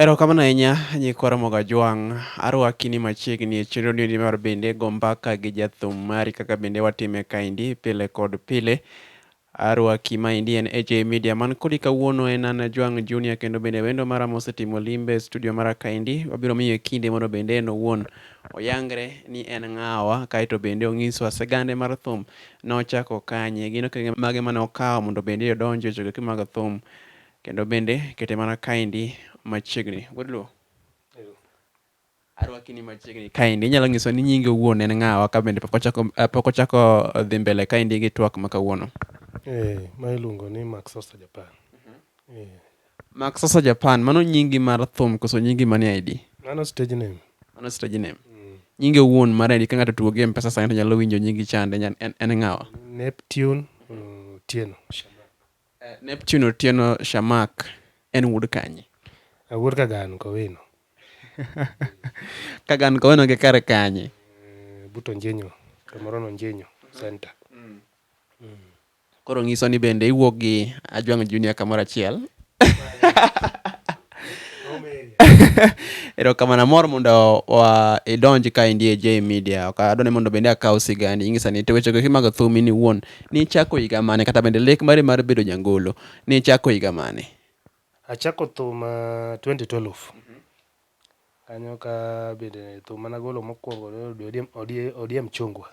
Erokamano ahinya nyikwa Ramogi Ajwang'. Arwaki ni machiegni e chenro niendi mar bende go mbaka gi jathum mari kaka bende watime kaendi pile kod pile. Arwaki maendi en AJ Media man kodi kawuono en an Ajwang' Junior kendo bende wendo mara mosetimo limbe e studio mara kaendi wabiro miye kinde mondo bende en owuon oyangre ni en ng'awa kaeto bende onyiswa sigande mar thum nochako kanye gin okenge mage mane okawo mondo bende odonje e chokegi mag thum. Kendo bende kete mana kaendi machiegni. Good luo. Arwakini machiegni kaendi. Inyalo nyiso ni nyingi owuon en ng'awa ka bende pok ochako eh, pok ochako dhi mbele kaendi gi twak ma kawuono. Eh, ma iluongo ni Max Sosa Japan. Eh, Max Sosa Japan, mano nyingi mar thum koso nyingi manie ID? mano stage name. Mano stage name. Nyingi owuon mar ID ka ng'ato tugo gi M-Pesa sani to nyalo winjo nyingi chande nyan- en, en ng'awa. Neptune uh, Tieno. Neptune Otieno Shamak en wuod kanye? Awuod Kagan Kowino. Kagan Kowino gi kar kanye? Eh, Buto Njenyo, Tomorono Njenyo Center. Koro nyiso ni bende iwuok gi Ajwang' Junior kamoro achiel. erokamano amor mondo idonj ka indie j media ok adwa ni mondo bende akaw sigani ing'isa ni to wechego kimago thumi ni wuon ni ichako higa mane kata bende lek mari mar bedo jangolo ni ichako higa mane achako thum uh, 2012 kanyo ka bende thum mana golo mokwongo odiem, odiem, odiem chungwa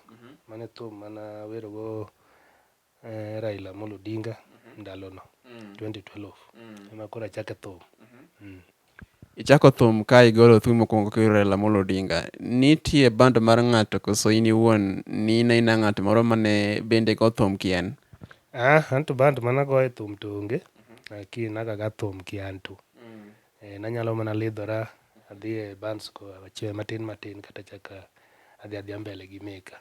mane thum mana werogo eh, Raila Amolo Odinga ndalono 2012 ema koro achake thum Mm. Ichako thum ka igolo thum mokwongo kiwero Raila Amolo Odinga. Nitie band mar ng'ato koso in iwuon ni in aina ng'at moro mane bende go thum kien? Ah, anto band mana goye thum to onge lakini nagaga thum ki anto eh, nanyalo mana lidhora adhi e bands ko achiel matin matin kata chaka adhi adhia mbele gi meka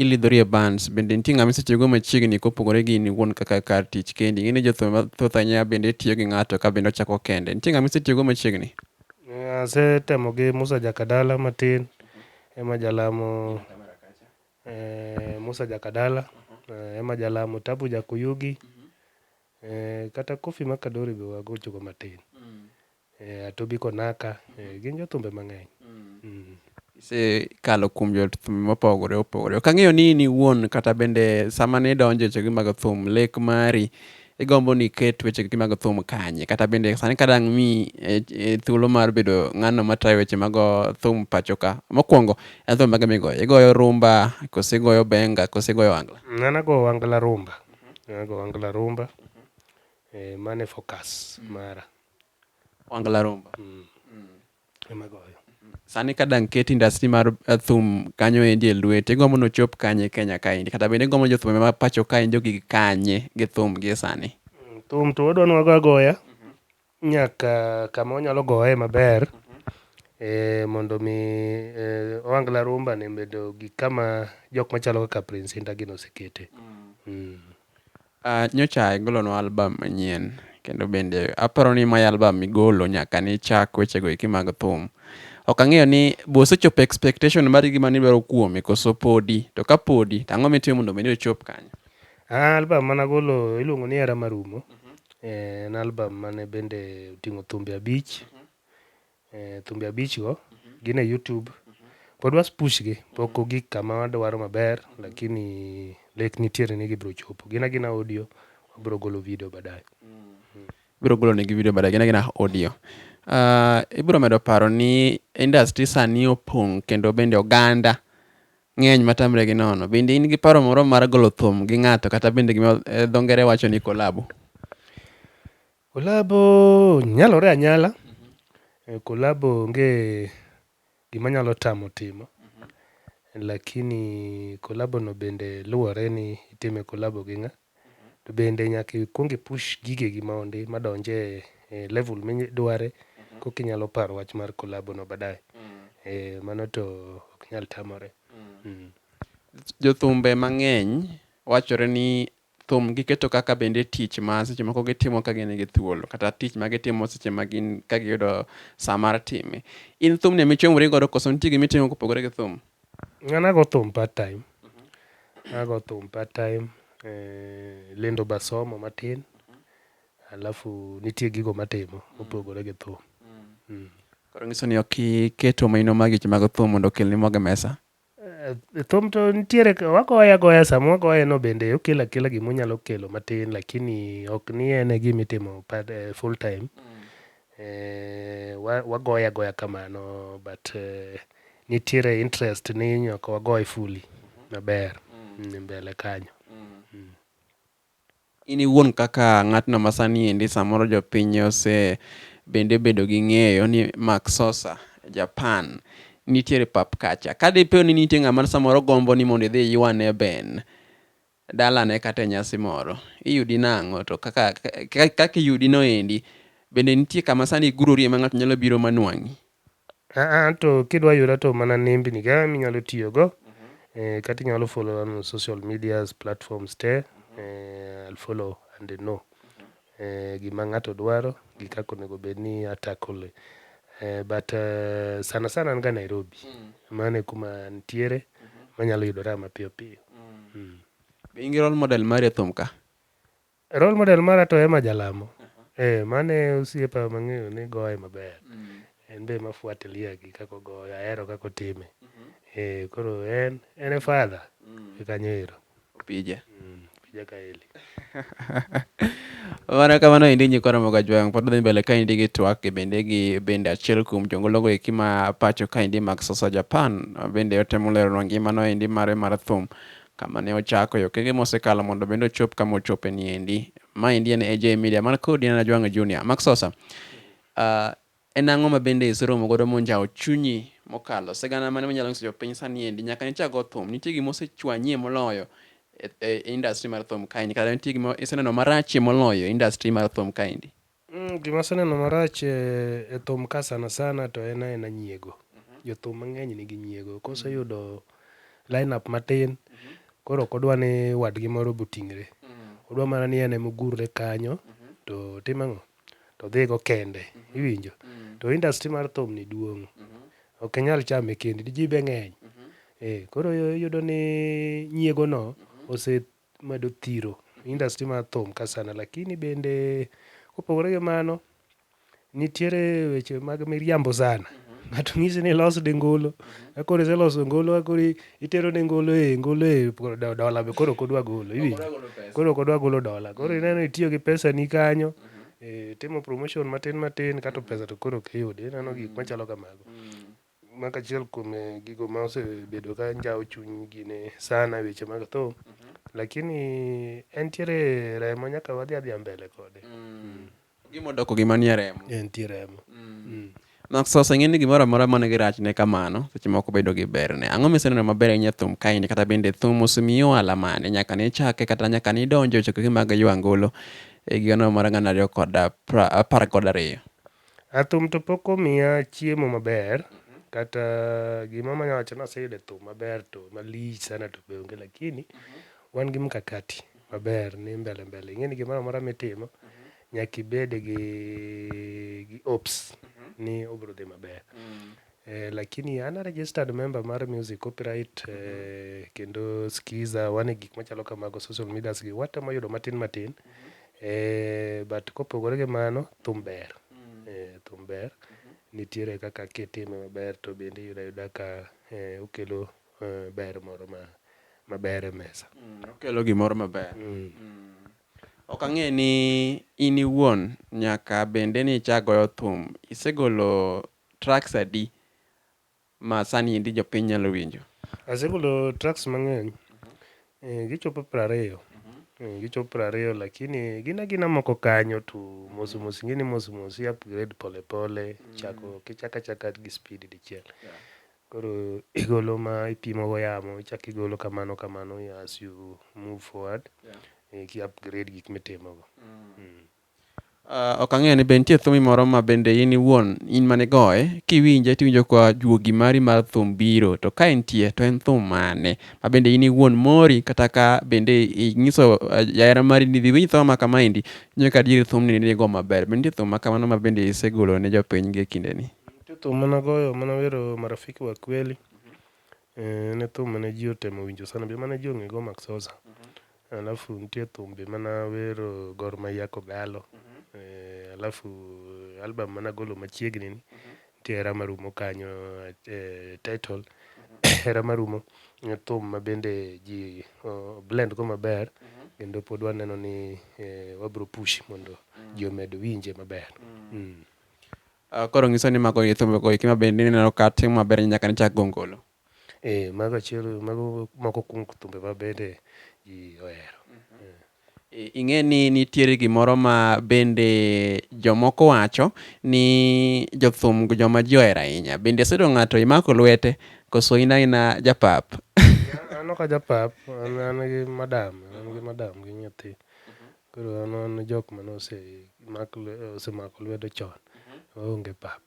Ilidhori e bands, bende nitie ng'ama isetiyogo machiegni kopogore gi in iwuon kaka kar tich kendi? Ing'e ni jothum mathoth ahinya bende tiyo gi ng'ato ka bende ochako kende. Nitie ng'ama isetiyogo machiegni? Asetemo gi Musa Jakadala matin, ema jalamo Musa Jakadala, ema jalamo Tabu Jakuyugi, kata Koffi Makadori be wagochoga matin. Eh, Atobi Konaka, eh, gin jothumbe mang'eny. Mm. isekalo kuom jothum mopogore opogore ok ang'eyo ni in iwuon kata bende sama ne idonjo e wechegi mag thum lek mari igombo ni iket wechegi mag thum kanye kata bende sani ka dang' mi e, e, thuolo mar bedo ng'ano matayo weche mag thum pacho ka mokwongo en thum mage migoyo igoyo rumba kose igoyo benga kose igoyo angla Nana go wangla rumba. Nana go wangla rumba. Eh, mane focus mara. Wangla Rumba. Mm. Mm. Ema goyo. Sani ka dang ket industry mar uh, thum kanyo endi e lwete, igombo ni ochop kanye Kenya kaendi? Kata bende igombo ni jothum ma pacho kaendi ogig kanye gi thum gi sani? Mm, thum to wadwa ni wago agoya nyaka kama wanyalo goye maber eh, mondo mi eh, Ohangla Rumba ne bedo gi kama jok machalo kaka Prince Inda gin osekete. Mm. Aah, nyocha igolonwa album manyien kendo bende aparo ni mae album migolo nyaka nichak wechego eki mag thum. Ok ang'eyo ni be osechopo expectation mari gi mane idwaro kuome koso podi, to ka podi to ang'o mitimo mondo mi ochop kanyo? Aah, album mane agolo iluongo ni Hera Marumo, en album mane bende oting'o thumbe abich Eh, thumbe abich go gin e YouTube. Pod was push gi, pok ogik kama wadwaro maber, lakini lek nitiere ni gibiro chopo. Gin agina audio, wabiro golo video baadaye. Ibiro golo negi video baadaye, gin agina audio. Ah, ibiro medo paro ni industry sani opong' kendo bende oganda ng'eny matamre gi nono. Bende in gi paro moro mar golo thum gi ng'ato kata bende gima eh, dho ngere wacho ni kolabo? Collabo nyalore anyala, collabo onge gima nyalo tamo timo. Lakini collabo no bende luwore ni itime collabo gi ng'a. To bende nyaka ikwong i push gigegi mondi ma donj e level midware koka inyalo paro wach mar collabo no baadaye. Eeh, mano to ok nyal tamore. Jothumbe mang'eny wachore ni Thum giketo kaka bende tich ma seche moko gitimo ka gin gi thuolo kata tich ma gitimo seche ma gin ka giyudo sa mar time. In thumni ema ichomori godo koso nitie gima itimo kopogore gi thum? An ago thum part time, ago thum part time, eh, lendo be asomo matin, alafu nitie gigo matimo mopogore gi thum. Koro nyiso ni ok iketo maino mag weche mag thum mondo okelni mogo e mesa? Thum to nitiere wagoye agoya sama wagoye no bende okelo akela gima onyalo kelo matin lakini ok ni en e gima itimo part, eh, full time eh, wa- wagoye agoya kamano but eh, nitiere interest ni nyaka wagoye fully maber mm. mbele kanyo In iwuon kaka ng'atno ma sani endi samoro jopiny ose bende obedo gi ng'eyo ni Mark Sosa, Japan, nitiere e pap kacha. Ka di po ni nitie ng'ama samoro gombo ni mondo idhi iywane ben dalane kata e nyasi moro, iyudi nang'o? To kaka kaka iyudi no endi, bende nitie kama sani igurorie ma ng'ato nyalo biro ma nwang'i? Aa to kidwa yuda to mana nembni ka minyalo tiyo go. Eh, kata inyalo follow on social medias platforms te. Eh, I'll follow and they know. Eh, gima ng'ato dwaro gi kaka onego bed ni a tackle. Eh, but eh, sana sana an ga Nairobi. Mano e kuma nitiere manyalo yudora mapiyo piyo. Be in gi role model mari e thum ka? Role model mara to Emma Jalamo. Eh, mano e osiepa mang'eyo ni goye maber. En be mafuatilia gi kaka ogoyo, ahero kaka otime. Eh, koro en, en e father e kanyo ero. Opija. Opija Kaeli. Mana kamano endi nyikwa Ramogi Ajwang' pod dhi mbele ka endi gi twak gi bende gi bende achiel kuom jongologo eki ma pacho ka endi Max Sosa Japan bende otemo leronwa ngimano endi mare mar thum kama ne ochako e okenge mosekalo mondo bende ochop kama ochope ni endi. Ma endi en AJ Media, man kodi en Ajwang'o Junior. Mark Sosa, uh, en ang'o ma bende iseromo godo monjawo chunyi mokalo sigana mane manyalo nyiso jopiny sani endi nyaka nichak go thum nitie gima osechwanyie moloyo e, e, e industry mar thum kaendi kata nitie gima iseneno marachie moloyo e industry mar thum kaendi Gima aseneno marach e thum ka sana sana to en aena nyiego. Jothum mang'eny nigi nyiego. Koseyudo line up matin, koro ok odwa ni wadgi moro be oting're. Odwa mana ni en ema ogurre kanyo to otim ang'o? To odhigo kende. Iwinjo? To industry mar thum ni duong'. Ok inyal chame kendi. Ji be ng'eny. Koro iyudo ni nyiego no ose medo thiro industry mar thum ka sana lakini bende kopogore gi mano nitiere weche mag miriambo sana ng'ato nyisi ni los de ngolo akoro iseloso ngolo akoro itero ne ngolo e ngolo e dola be koro kodwa golo iwinjo koro kodwa golo dola koro ineno itiyo gi pesa ni kanyo e, timo promotion matin matin kato pesa to koro ok iyudi ineno gik machalo kamago Maka achiel kuom gigo ma osebedo ka njawo chuny gine sana e weche mag tho. Lakini entiere remo nyaka wadhi adhiya mbele kode. Mm. Gima odoko gima nie remo. Entie remo. Mm. Nakso oseng'e ni gimoro amora man gi rachne kamano, seche moko bedo gi berne. Ang'o miseneno maber ahinya e thum kaeni kata bende thum osemiyi ohala mane nyaka ne ichake kata nyaka ne idonjo e chokruoge mag Ywa Angolo e higa no mar gana ariyo kod apar kod ariyo? Thum to pok omiya chiemo maber kata gima anya wacho ni aseyudo e thum maber to malich sana to be onge lakini wan gi mkakati maber ni mbele mbele. Ing'e ni gimoro amora mitimo nyaka ibed gi hopes ni obro dhi maber Eh, lakini an a registered member mar music copyright mm -hmm. eh, kendo skiza wane gik machalo kamago social medias gi watemo yudo matin matin mm -hmm. eh, but kopogore gi mano thum ber mm -hmm. eh, thum ber mm -hmm. nitiere kaka kitime maber to bende yuda yuda ka eh, okelo eh, ber moro ma maber e mesa mm, okelo gimoro maber mm. Mm. ok ang'e ni in iwuon nyaka bende ni ichagoyo thum isegolo tracks adi ma sani endi jopiny nyalo winjo? Asegolo tracks mang'eny, gichopo piero ariyo, gichopo piero ariyo lakini gin agina moko kanyo to mos mos ing'e ni mos mos i upgrade pole pole chako ok ichak achaka gi speed dichiel. Koro igolo ma ipimo go yamo ichak igolo kamano kamano as you move forward ki upgrade gik mitimo go. Ok ang'eyo ni be nitie thumi moro ma bende in iwuon in mane igoye kiwinje tiwinjo ka juogi mari mar thum biro to ka entie to en thum mane ma bende in iwuon mori kata ka bende inyiso jahera eh, mari ni dhi winj thum ma kamaendi inyo ka adier thumni ne igo maber. Be nitie thum ma kamano ma bende isegolo ne jopiny gi e kindeni? Nitie thum mane agoyo mane awero marafiki wa kweli. Eh, en e thum mane ji otemo winjo sana be mane ji ong'e go Max Oza. Alafu nitie thumbe mana wero Gor Mahia Kogalo. Eh, alafu eh, album mana golo machiegni ni nitie hera marumo kanyo eh, title hera marumo eh, thum ma bende ji oh, blend go maber kendo pod waneno ni eh, wabro push mondo ji omed winje maber. Mm. Ah, koro nyiso ni mago e thumbe go eki ma bende ineno ka timo maber nyaka ne chak gongolo Eeh mago achiel mago moko kuom thumbe ma bende ji ohero. Ing'e ni nitiere gimoro ma bende jomoko wacho ni jothum joma ji ohero ahinya. Bende isedo ng'ato imako lwete koso in aina japap? An ok ajapap, an an gi madam, an gi madam gi nyathi. Koro an wan jok mane ose mak osemako lwedo chon. Waonge pap.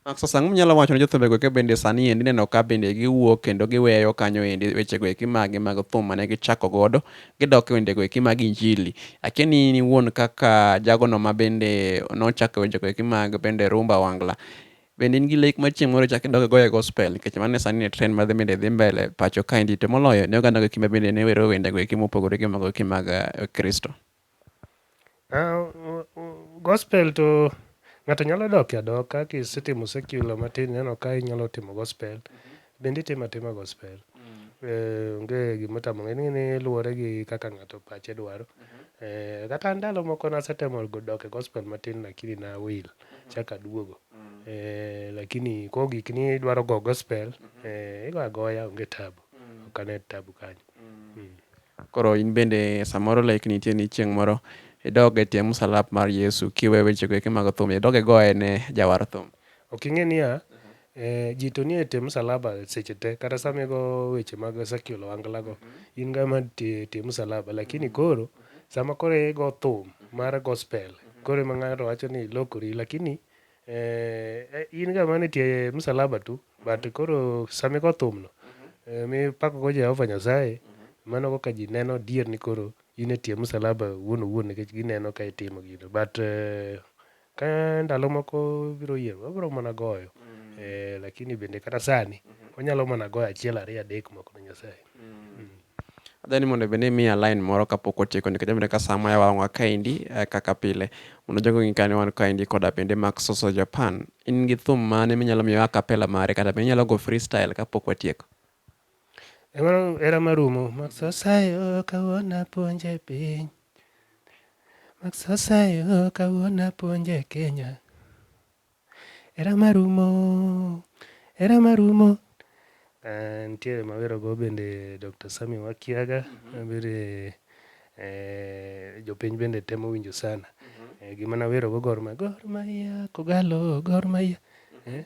Max, Sasa ang'o minyalo wacho ne jothumbe go kebende sani endi ineno ka bende giwuok kendo giweyo kanyo endi weche go eki magi mag thum mane gichako godo gidok e wende go eki mag injili. Akia ni in iwuon kaka jago no ma bende nochako weche go eki mag bende rumba wangla. Bende in gi lek ma chieng' moro ichak idog igoyo e gospel nikech mano e sani e trend madhi bende dhi mbele pacho kaendi to moloyo ne oganda go eki ma bende ne wero wende go eki mopogore gi mago eki mag eh, Kristo. Gospel to ng'ato nyalo doke adoka kisetimo secular matin ineno ka inyalo timo gospel bende itimo atima gospel. Onge gima otamo ng'ato, ing'e ni luwore gi kaka ng'ato pache dwaro. Kata an ndalo moko nasetemo dok e gospel matin lakini ne awil achako aduogo. Lakini koro gikni idwaro go gospel, igo agoya onge tabu, ok ane tabu kanyo. Koro in bende samoro like nitie ni chieng' moro idog e tie msalap mar Yesu kiwe wechego eki mag thum, idog igoye ne jawar thum. Ok ing'e niya, eh, ji to nie tie msalaba seche te. Kata sama igo weche mag Ezekiel Owangla go, in ga ma tie, tie msalaba. Lakini koro, sama koro igo thum mar gospel, koro ema ng'ato wacho ni ilokori. Lakini Eh, in ga mane tie msalaba tu but koro sami go thum no eh, mi pako go Jehova Nyasaye mano kaka ji neno adier ni koro in e tie msalaba wuon owuon nikech gineno ka itimo gino but eh, ka ndalo moko biro yie wabiro mana goyo eh, lakini bende kata sani wanyalo mana goyo achiel ariyo adek moko ne Nyasaye Adwani mondo bende imiya line moro kapok otieko nikech abende ka sama yawa wang'wa kaendi eh, kaka pile. Mondo jogo ng'i kane wan kaendi koda bende Mark Soso Japan. In gi thum mane minyalo miyo akapela mare kata be inyalo go freestyle kapok watieko? Eh, mano era marumo. Mark Sosa yo kawuono apuonje piny. Mark Sosa yo kawuono apuonje Kenya. Hera marumo, hera marumo. Uh, nitiere mawerogo bende Dr. Sami Wakiaga mm -hmm. bende eh, jopiny bende temo winjo sana mm -hmm. eh, gima nawerogo Gor Mahia Gor Mahia Kogalo Gor Mahia mm -hmm. eh?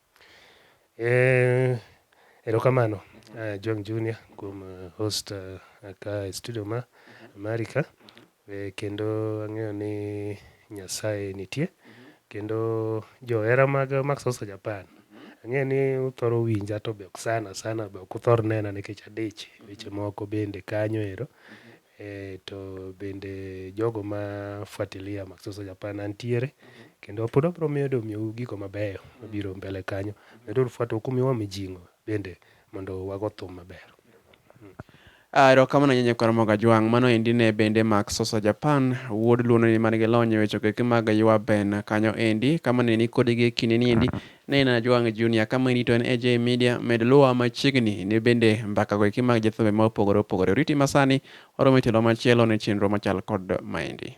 Eh, erokamano John Junior kuom hosta ka e studio ma mari ka. Kendo ang'eyo ni Nyasaye nitie, kendo johera mag Max Hosta Japan ang'eyo ni uthoro winja to be ok sana sana be ok uthor nena nikech adich weche moko bende kanyo ero. Eeh to bende jogo ma fuatilia Maxoso Japan antiere kendo pod wabiro medo miyou gigo mabeyo mabiro mbele kanyo. Meduru fuato huku miwa mijing'o bende mondo wago thum maber. Aah, erokamano ahinya Nyakwar Mogo Ajwang'. Mano endi ne bende Max Sosa Japan, wuod Luo no endi man gi lony e weche go eki mag Ywaben kanyo endi. Kamano endi nikodi gi e kindeni endi Ne in Ajwang' Junior kama irito en AJ Media, med luwa machiegni ni bende mbakago eki mag jothumbe ma opogore opogore oriti masani, waromo e tielo machielo ne chenro machal kod maendi.